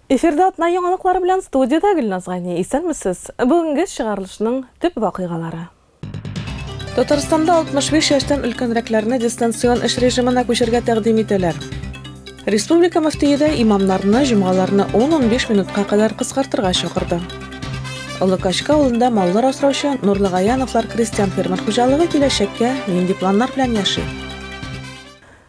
Эфирда атна яңалыклары белән студиядә Гөлназ Гани. Исәнмесез. Бүгенге чыгарылышның төп вакыйгалары. Татарстанда 65 яшьтән өлкәнрәкләрне дистанцион эш режимына күчергә тәкъдим итәләр. Республика мөфтие дә имамнарны җомгаларны 10-15 минутка кадәр кыскартырга чакырды. Олы Качка авылында маллар асраучы Нурлы Гаяновлар крестьян-фермер хуҗалыгы киләчәккә нинди планнар белән яши?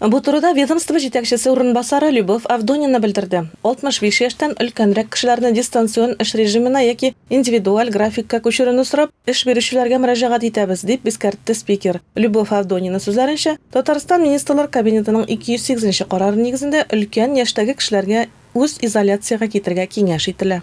Бу турыда ведомство җитәкчесе урынбасары Любовь Авдонина белдерде. 65 яшьтән өлкәнрәк кешеләрне дистанцион эш режимына яки индивидуаль графикка күчерүне сорап, эш бирүчеләргә мөрәҗәгать итәбез, дип искәртте спикер. Любовь Авдонина сүзләренчә, Татарстан Министрлар Кабинетының 208 нче карары нигезендә өлкән яшьтәге кешеләргә үз изоляциягә китергә киңәш ителә.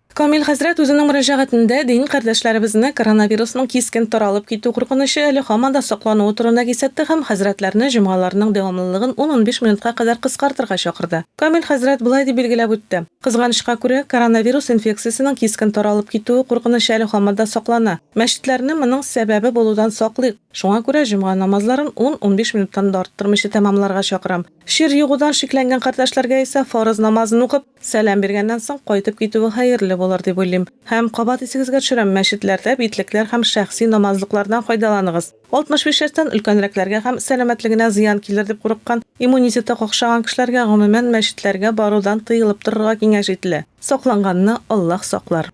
Камил хәзрәт үзенең мөрәҗәгатендә дин кардәшләребезне коронавирусның кискен таралып китү куркынычы әле һаман да саклануы турында кисәтте һәм хәзрәтләрне җомгаларның дәвамлылыгын ун-унбиш минутка кадәр кыскартырга чакырды. Камил хәзрәт болай дип билгеләп үтте, Кызганычка күрә, коронавирус инфекциясенең кискен таралып китүе куркынычы әле һаман да саклана. Мәчетләрне моның сәбәбе булудан саклыйк. Шуңа күрә җомга намазларын ун-унбиш минуттан да арттырмыйча тәмамларга чакырам. Чир егудан шикләнгән кардәшләргә исә фарыз намазын укып, Сәлам биргәннән соң кайтып китүе хәерле булыр дип уйлыйм. Һәм, кабат исегезгә төшерәм, мәчетләрдә битлекләр һәм шәхси намазлыклардан файдаланыгыз. 65 яшьтән өлкәнрәкләргә һәм сәламәтлегенә зыян килер дип курыккан, иммунитеты какшаган кешеләргә, гомумән, мәчетләргә барудан тыелып торырга киңәш ителә. Сакланганны Аллаһ саклар.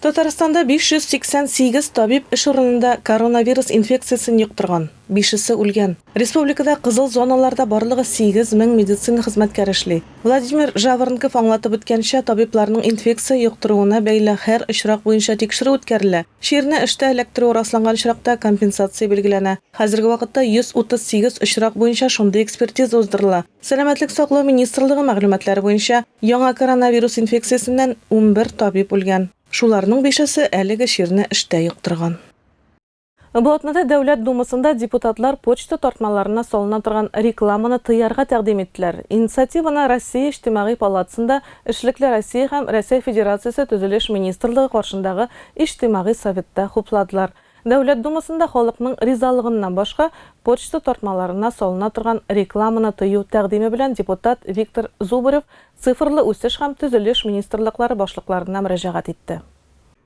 Татарстанда 588 табиб эш урынында коронавирус инфекциясен йоктырган, бишесе үлгән. Республикада кызыл зоналарда барлыгы 8 мең медицина хезмәткәре эшли. Владимир Жаворонков аңлатып үткәнчә, табибларның инфекция йоктыруына бәйле һәр очрак буенча тикшерү үткәрелә. Чирне эштә эләктерү расланган очракта компенсация билгеләнә. Хәзерге вакытта 138 очрак буенча шундый экспертиза уздырыла. Сәламәтлек саклау министрлыгы мәгълүматлары буенча, яңа коронавирус инфекциясеннән унбер табиб үлгән. Шуларның бишесе әлеге чирне эштә йоктырган. Бу атнада Дәүләт Думасында депутатлар почта тартмаларына салына торган рекламаны тыярга тәкъдим иттеләр. Инициативаны Россия Иҗтимагый палатасында Эшлекле Россия һәм Рәсәй Федерациясе Төзелеш министрлыгы каршындагы Иҗтимагый советта хупладылар. Дәүләт Думасында халыкның ризалыгыннан башка почта тартмаларына салына торган рекламаны тыю тәкъдиме белән депутат Виктор Зубарев Цифрлы үсеш һәм төзелеш министрлыклары башлыкларына мөрәҗәгать итте.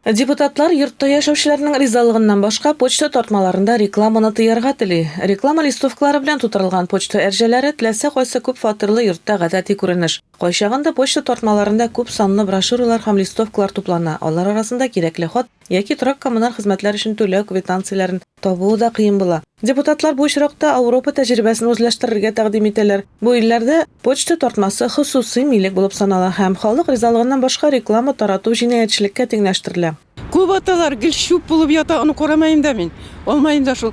Депутатлар йортта яшәүчеләрнең ризалыгыннан башка почта тартмаларында рекламаны тыярга тели. Реклама листовкалары белән тутырылган почта әрҗәләре теләсә кайсы күпфатирлы йортта гадәти күренеш. Кайчагында почта тартмаларында күп санлы брошюралар һәм листовкалар туплана, алар арасында кирәкле хат яки торак-коммуналь хезмәтләр өчен түләү квитанцияләрен табуы да кыен була. Депутатлар бу очракта Ауропа тәҗрибәсен үзләштерергә тәкъдим итәләр. Бу илләрдә почта тартмасы хосусый милек булып санала һәм халык ризалыгыннан башка реклама тарату җинаятьчелеккә тиңләштерелә. Күп аталар гел чүп булып ята, аны карамаем да мин. Алмаем да шул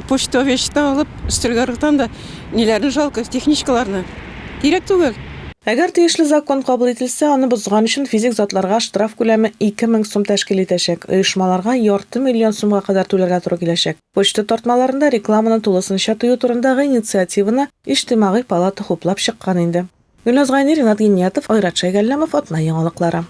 почта вещта алып, өстәлгә ыргытам да. Ниләрне жалко, техничкаларны. Кирәк түгел. Әгәр тиешле закон кабул ителсә, аны бозган өчен физик затларга штраф күләме 2000 сум тәшкил итәчәк, оешмаларга ярты миллион сумга кадәр түләргә туры киләчәк. Почта тартмаларында рекламаны тулысынча тыю турындагы инициативаны Иҗтимагый палата хуплап чыккан инде. Гөлназ Гайни, Ринат Гиниятов, Айрат Шәйгалләмов, Атна яңалыклары.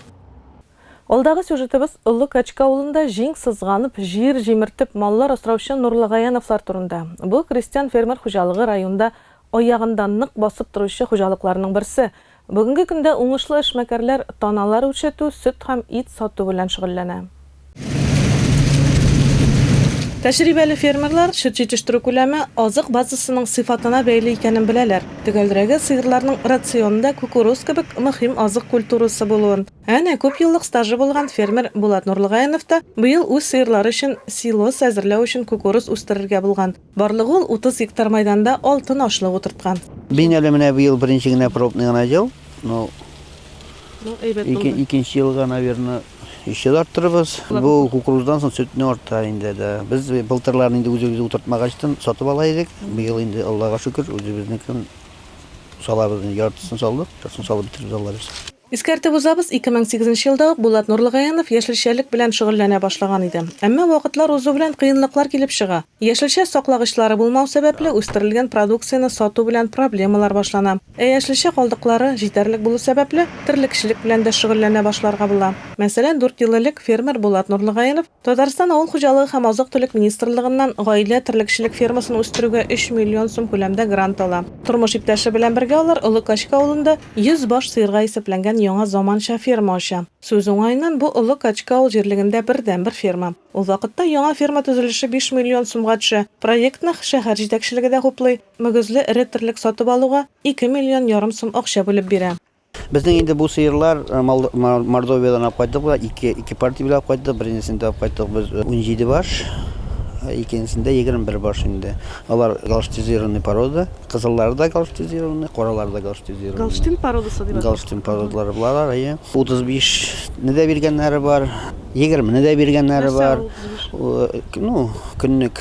Алдагы сюжетыбыз Олы Качка авылында җиң сызганып, җир җимертеп, маллар асраучы Нурлы Гаяновлар турында. Бу крестьян-фермер хуҗалыгы районда аягында нык басып торучы хуҗалыкларның берсе. Бүгенге көндә уңышлы эшмәкәрләр таналар үрчетү, сөт һәм ит сату белән шөгыльләнә. Тәҗрибәле фермерлар чүт җитештерү күләме азык базасының сыйфатына бәйле икәнен беләләр. Төгәлрәге, сыерларның рационында кукуруз кебек мөһим азык культурасы булуын. Әнә, күп еллык стажы булган фермер Булат Нурлыгаинов та быел үз сыерлары өчен силос әзерләү өчен кукуруз үстерергә булган. Барлыгы ул 30 гектар мәйданда алтын ашлык утырткан. Мин әле менә быел беренче генә пробный гына җыл. Ну, Ну, әйбәт ике, булды. икенче елга, наверное, еще да арттырырбыз. Бу кукуруздан соң сөтне арта инде, да. Без былтырлар инде үзебез утыртмагачтын, сатып ала идек. Быел инде, Аллага шөкер, үзебезнекен салабыз. Яртысын салдык, яртысын салып бетерербез, Алла бирса. Искәртеп узабыз, 2008 елда ук Булат Нурлыгаянов яшелчәлек белән шөгыльләнә башлаган иде. Әмма вакытлар узу белән кыенлыклар килеп чыга. Яшелчә саклагычлары булмау сәбәпле, үстерелгән продукцияне сату белән проблемалар башлана. Ә яшелчә калдыклары җитәрлек булу сәбәпле, терлекчелек белән дә шөгыльләнә башларга була. Мәсәлән, дүрт ел элек фермер Булат Нурлыгаянов Татарстан Авыл хуҗалыгы һәм азык-төлек министрлыгыннан гаилә терлекчелек фермасын үстерүгә 3 миллион сум күләмдә грант ала. Тормыш иптәше белән бергә алар Олы Качка авылында 100 баш сыерга исәпләнгән яңа заманча ферма ача. Сүз уңаеннан, бу Олы Качка авыл җирлегендә бердәнбер ферма. Ул вакытта яңа ферма төзелеше 5 миллион сумга төшә. Проектны шәһәр җитәкчелеге дә хуплый, мөгезле эре терлек сатып алуга ике миллион ярым сум акча бүлеп бирә. Безнең инде бу сыерлар Мордовиядән алып кайттык, болар ике, ике партия белән алып кайттык. Беренчесендә алып кайттык без 17 баш, икенчесендә 21 баш инде. Алар галштизированный порода, кызыллары да галштизированный, каралары да галштизированный. Галштин породасы дип атала. Галштин породалары булалар, әйе. 35-не дә биргәннәре бар, 20-не дә биргәннәре бар. Ну, көнлек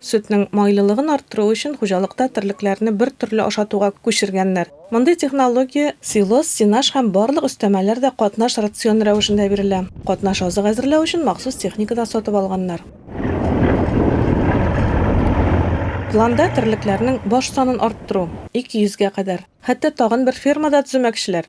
Сөтнең майлылыгын арттыру өчен хуҗалыкта терлекләрне бер төрле ашатуга күчергәннәр. Мондый технология. Силос, сенаж һәм барлык өстәмәләр дә катнаш рацион рәвешендә бирелә. Катнаш азык әзерләү өчен махсус техника да сатып алганнар. Планда терлекләрнең баш санын арттыру, 200 гә кадәр. Хәтта тагын бер ферма да төземәкчеләр.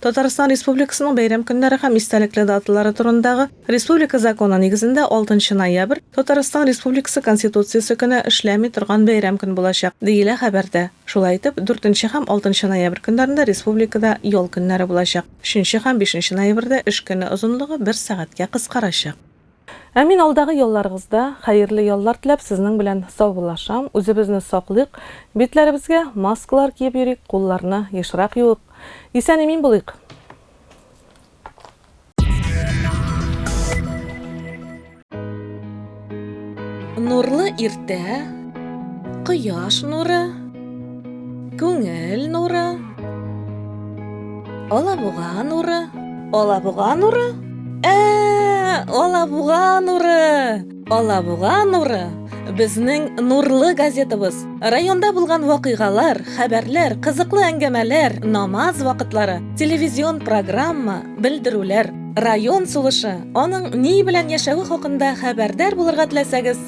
Татарстан Республикасының бәйрәм көннәре һәм истәлекле даталары турындагы республика законы нигезендә алтынчы ноябрь, Татарстан Республикасы Конституциясе көне эшләми торган бәйрәм көн булачак, диелә хәбәрдә. Шулай итеп, дүртенче һәм алтынчы ноябрь көннәрендә республикада ял көннәре булачак, өченче һәм бишенче ноябрьдә эш көне озынлыгы бер сәгатькә кыскарачак. Әмин алдагы елларыгызда хәерле яллар теләп сезнең белән саубуллашам, үзебезне саклыйк, битләребезгә маскалар киеп йөрик, кулларны ешрак юыйк, исән имин булыйк. Нурлы иртә, кояш нуры. Күңел нуры. Алабуга нуры. Алабуга нуры? Ә, Алабуга нуры. Алабуга нуры. Безнең нурлы газетабыз. Районда булган вакыйгалар, хәбәрләр, кызыклы әңгәмәләр, намаз вакытлары, телевизион программа, белдерүләр, район сулышы, аның ни белән яшәве хакында хәбәрдар булырга теләсәгез,